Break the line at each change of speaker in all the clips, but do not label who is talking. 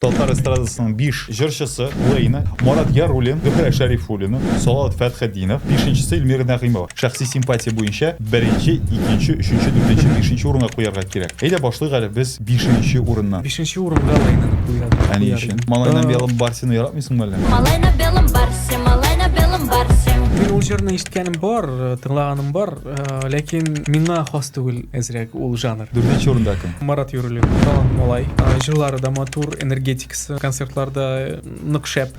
Татар эстрадасының биш җырчысы, Лейна, Марат Яруллин, Зөһрә Шәрифуллина, Салават Фәтхетдинов, бишенчесе Ильмира Нәгыймова. Шәхси симпатия буенча беренче, икенче, өченче, дүртенче, бишенче урынга куярга кирәк. Әйдә башлыйк әле без бишенче урыннан. Бишенче урынга Лейнаны куя, куяр Ә ни өчен? идем. Малай на белом барсены яратмыйсыңмы әллә? Малай на белом барсе, малай на белом барсе. Мин ул җырны ишеткәнем бар, тыңлаганым бар. Ләкин миңа хас түгел әзрәк ул жанр. Дүртенче урында кем? Марат Юруллин, талант малай. Җырлары да матур, энергетикасы, концертлар да нык шәп.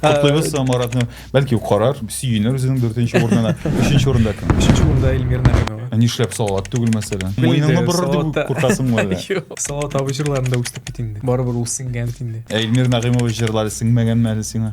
Котлыйбыз Маратны. Бәлки ул карар, сөенер үзенең дүртенче урынына. Өченче урында кем? Өченче урында Эльмир Нәгыймова. Ә нишләп салават түгел мәсәлән? Муеныңны борыр дип куркасыңмы әллә? Юк. Салават абый җырларында үстек бит инде. Барыбер ул сеңгән бит инде. Ә Эльмир Нәгыймова җырлары сеңмәгәнме әле сиңа?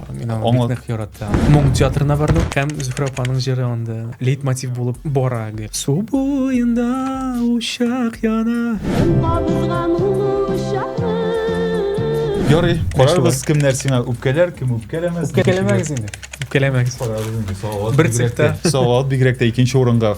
Мин аны бик нык яратам. Моң театрына бардым һәм Зөһрә апаның җыры анда лейтмотив булып бара. Су буенда учак яна. Ярый, карарбыз кемнәр сиңа үпкәләр, кем үпкәләмәс. Үпкәләмәгез инде. Үпкәләмәгез. Карарбыз инде. Салават. Бер цехта. Салават бигрәк тә икенче урынга.